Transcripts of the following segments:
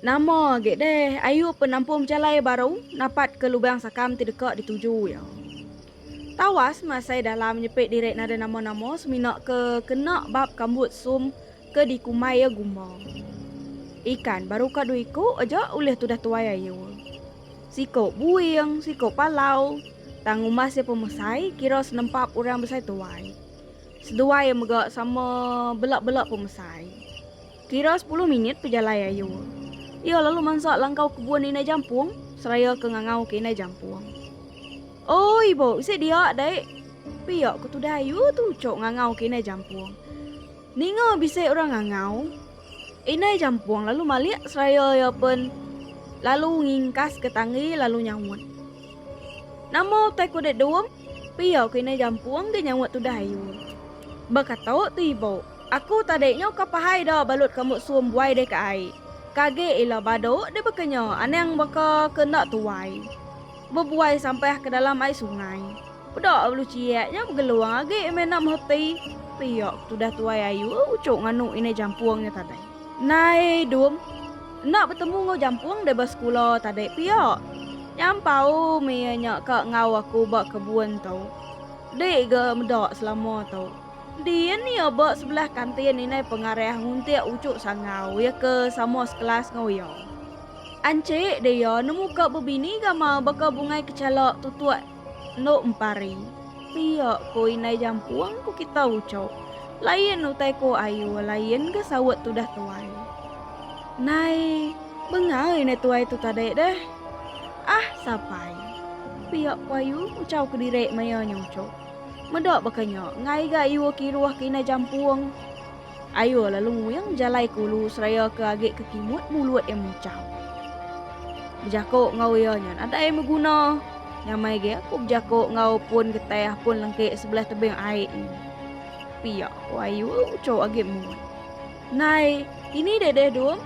Nama agi deh Ayup penampung bejalai baru napat ke lubang sakam ti deka dituju iya. Tawas masai dalam nyepit diri nada nama-nama semina ke kena bab kambut sum ke dikumbai iya gumba. Ikan baru ka dua iku aja ulih tudah tuai Ayup. Siko buing, siko palau, tang umas iya pemesai kira senempap orang besai tuai. Seduai iya mega sama bela-bela pemesai. Kira sepuluh minit pejalai ayu. Iya lalu mansa langkau kebun Indai Jampung seraya ke ngangau ke Indai Jampung. Oi, Bo, bisi dia dai. Pia ku tudah ayu tu ucuk ngangau ke Indai Jampung. Ninga bisi orang ngangau. Indai Jampung lalu malik seraya iya pen lalu ngingkas ke tanggi lalu nyaut. Nama utai kuda dum? Pia ku Indai Jampung ke nyaut tudah ayu. Ba katok tu, Ibo. Aku tadi nyo ka pahai da balut ka musuh buai deh ka ai. Kage ila badu deh baka nyo anang baka ke enda tuai. Bebuai sampah ke dalam ai sungai. Peda ulu ciak nyo begelung age mena meheti pia ke tudah tuai ayu ucuk nganu inai jampung nyo tadi. Nai dum, enda betemu ngau jampung deh ba sekula tadi pia. Nyampau mie nyo ka ngau aku ba kebun tu. Dik ga meda selama tu. Din iya ba sebelah kantin indai pengarah nguntik uchu sangau iya ke sama sekelas enggau iya. Anchik deh iya nemu ka bebini gama baka bungai kechala tutuk endu empari. Pia ko indai jampung ko kita uchup. Lain utai ko ayu lain ga saut tudah tuai. Nai bengai indai tuai tu tadi deh. Ah sapai. Pia ko ayu nguchau kediri maya nya uchup. Meda baka nya, enggai ga iwa kiruh ke indai jampung. Ayo lalu nguing jalai ke ulu seraya ke agi ke kimut mulut iya muchau. Bejako enggau iya nya nadai beguna. Nyamai ge aku bejako enggau pun getai apun lengke sebelah tebing ai nya. Pia ko ayu ucho agi muat. Nai, kini deh deh dong.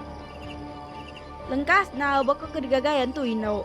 Lengkas nau baka ke digagai antu indu.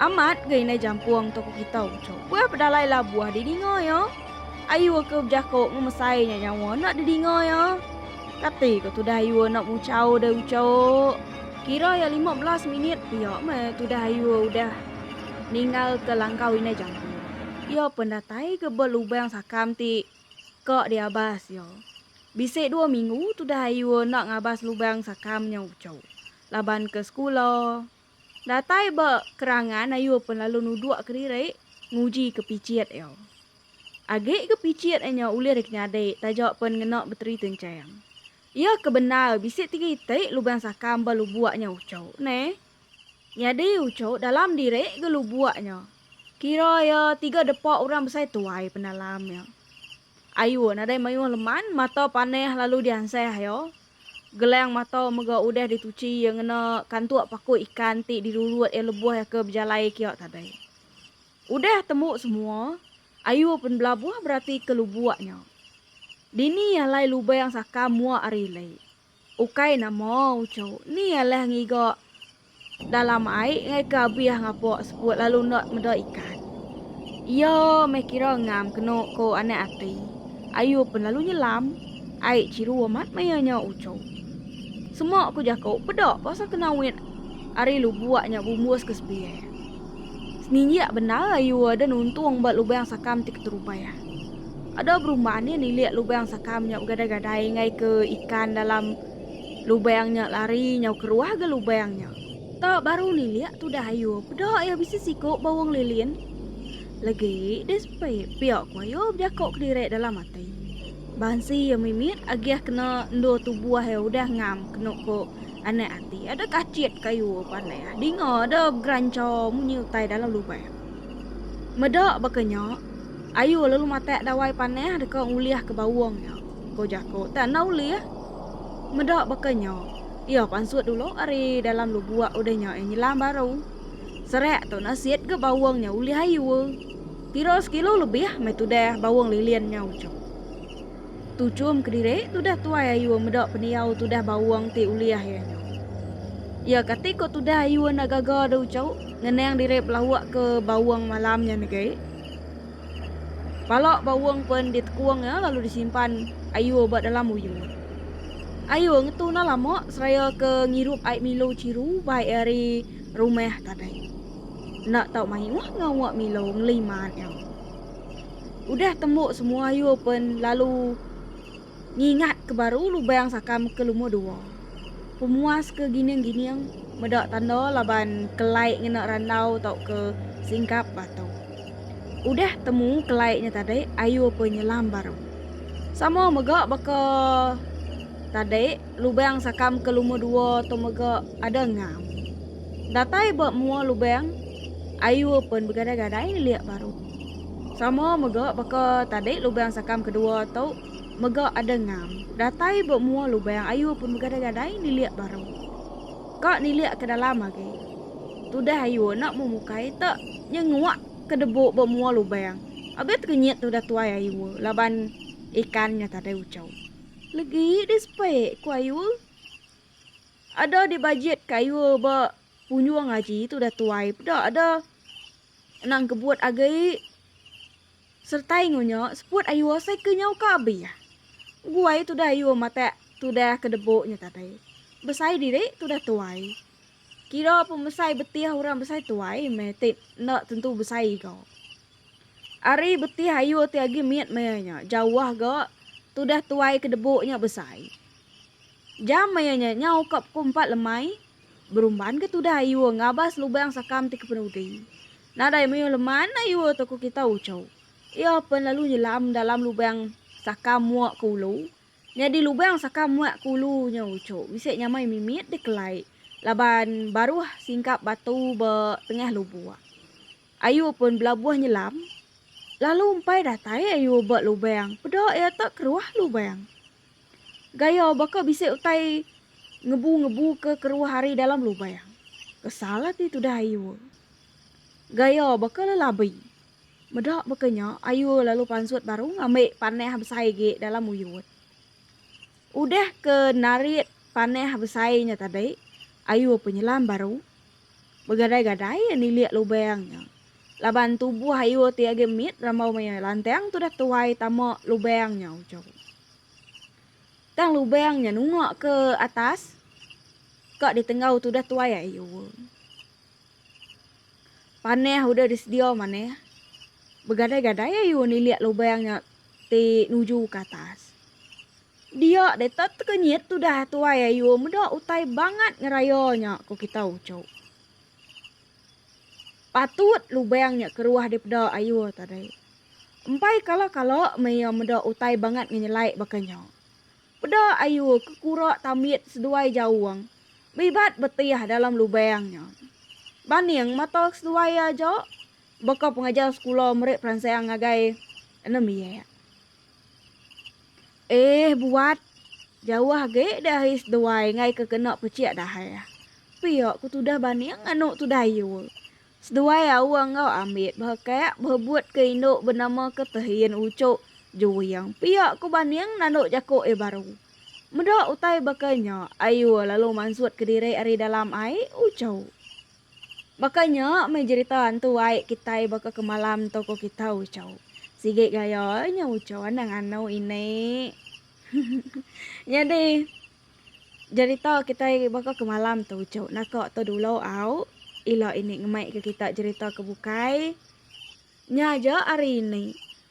Amat ga indai jampung toko kita ucok. Buah pedalai la buah didinga ya. Ayu ke bejako ngemesai nya nyawa enda didinga ya. Kati ko tudah ayu enda mucau deh ucok. Kira ya lima belas minit pia meh tudah ayu udah ninggal ke langkau indai jampung. Iya pen datai ke ba lubang sakam ti ka diabas iya. Bisi dua minggu tudah ayu enda ngabas lubang sakam nya ucok. Laban ke sekula. Datai ba kerangan ayu pen lalu nuduk kediri nguji ke pichit iya. Agi ke pichit enya ulih deka nyadi taja pen ngena beteri tenchang. Iya ke bendar bisi tiga iti lubang sakam ba lubuk nya uchu ne. Nyadi uchu dalam diri ga lubuk nya. Kira iya tiga depa orang besai tuai pendalam iya. Ayu nadai mayuh leman mata panih lalu diansah iya. Gelang mata mega udah dituchi iya ngena kantuk paku ikan ti dirurut iya lebuh iya ke bejalai kiya tadai. Udah tembu semua, ayu pen belabuh beratika lubuk nya. Dini alai lubang sakam mua ari lei. Ukai nama uchu, ni alah ngiga. Dalam ai engai ke abih ngapok seput lalu enda meda ikan. Iya meh kira ngam keno ko anak ati. Ayu pen lalu nyelam. Ai chiru amat maya nya ucho. Sema ko jako peda pasal kenawit ari lubok nya bumbus ke sebiak. Seninjik bendar ayu ada nuntung ba lubang sakam ti keterubai. Ada berumban iya nilik lubang sakam nya begadai-gadai engai ke ikan dalam. Lubang nya lari nyau keruah ga lubang nya. Ta baru nilik tudah ayu peda iya bisi siku ba wong lilin. Legi deh sepi pia ku ayu bejako kediri dalam ati. Bansi iya mimit agih kena endur tubuh iya udah ngam kenu ku anak ati ada kachit ka ayu pandai ah dinga da begerancha munyi utai dalam lubang. Meda baka nya ayu lalu matak dawai panah deka ngulih ke bawong nya. Ko jako tak enda ulih. Meda baka nya, iya pansut dulu ari dalam lubuk udah nya iya nyelam baru. Serak tu nasit ga bawang nya ulih ayu. Pira sekilo lebih meh tudah bawang lilin nya uchup. Tuchum kediri tudah tuai ayu meda pendiau tudah bawang ti ulih iya nya. Iya kati ko tudah ayu enda gaga da uchup ngenang diri belauk ke bawang malam nya negi. Pala Bawong pen ditekung iya lalu disimpan Ayur ba dalam uyu. Ayur ngetu enda lama seraya ke ngirup ai Milo chiru bai ari rumah tadai. Enda tau mayuh ngawa Milo ngeliman iya. Udah tembu semua Ayur pen lalu Ngingat ke baru lubang sakam ke lumur dua. Pemuas ke gining-gining meda tanda laban kelai ngena randau tauka singkap batu. Udah temu kelai nya tadi ayu apa nyelam baru. Sama mega baka tadi lubang sakam ke lumur dua tu mega ada ngam. Datai ba mua lubang ayu pen begadai-gadai nelik baru. Sama mega baka tadi lubang sakam kedua tu mega ada ngam. Datai ba mua lubang ayu pun begadai-gadai nilik baru. Ka nilik ke dalam agi. Tudah ayu enda meh mukai te nyenguak ke debu ba mua lubang. Abih tekenyit tudah tuai ayu laban ikan nya tadi uchu. Legi di sepi ku ayu. Ada dibajit ke ayu ba punjung aji tudah tuai peda ada. Anang kebut age sertai ngunya seput ayu asai ke nyau ka abih. Guai tudah ayu matak tudah ke debu nya tadi. Besai diri tudah tuai. Kira pemesai betih orang besai tuai meh ti enda tentu besai iga. Ari betih ayu ti agi mit maya nya jauh ga tudah tuai ke debu nya besai. Jam maya nya nyau ka pukul empat lemai Berumban ke tudah iwa ngabas lubang sakam ti kepenudi. Nadai meyuh lemana iwa tokoh kita Ucho. Iya pen lalu nyelam dalam lubang sakam muak ke ulu. Nyadi lubang sakam muak ke ulu nya Ucho bisi nyamai mimit dikelai laban baruh singkap batu ba tengah lubuk. Ayu pen belabuh nyelam lalu empai datai ayu ba lubang peda iya tu keruh lubang. Gaya baka bisi utai ngebu-ngebuka keruah ari dalam lubang. Kesal ati tudah Ayue. Gaya baka lelabi. Meda baka nya, Ayue lalu pansut baru ngambi panah besai agi dalam uyut. Udah ke narit panah besai nya tadi, Ayue penyelam baru. Begadai-gadai iya nilik lubang nya. Laban tubuh Ayu ti agi mit rambau maya lantang tudah tuai tama lubang nya ujau. Tang lubang nya nungak ke atas ka ditenggau tudah tuai Ayu. Panah udah disedia manah. Begadai-gadai Ayu nilik lubang nya ti nuju ke atas. Dia deh tak tekenyit tudah tuai ayu meda utai bangat ngeraya nya ko kita uco. Patut lubang nya keruah dipeda ayu tadi. Empai kala kala meh iya meda utai bangat ngenyelai baka nya. Peda ayu ke kura tambit seduai jaung bibat betih dalam lubang nya. Baning mata seduai aja baka pengajar sekula meri peransang ngagai enda miak. Eeh buat. Jauh agi deh ai seduai ngai ke kena pechik dahai. Pia ku tudah baning anu tu dayu. Seduai aung enggau ambit behekak behebut ke indu benama ke Tehin Uchuk Juing pia ku baning nandu jaku iya baru. Meda utai baka nya ayu lalu mansut kediri ari dalam ai Uchuk. Baka nya meh jerita antu ai kitai baka ke malam tu ko kita Uchau. Sigi gaya nya Uchau anang anu ini. Nyadi jerita kitai baka ke malam tu Uchau naka tu dulu au ila ini ngemai ke kita jerita ke bukai nya aja hari ini.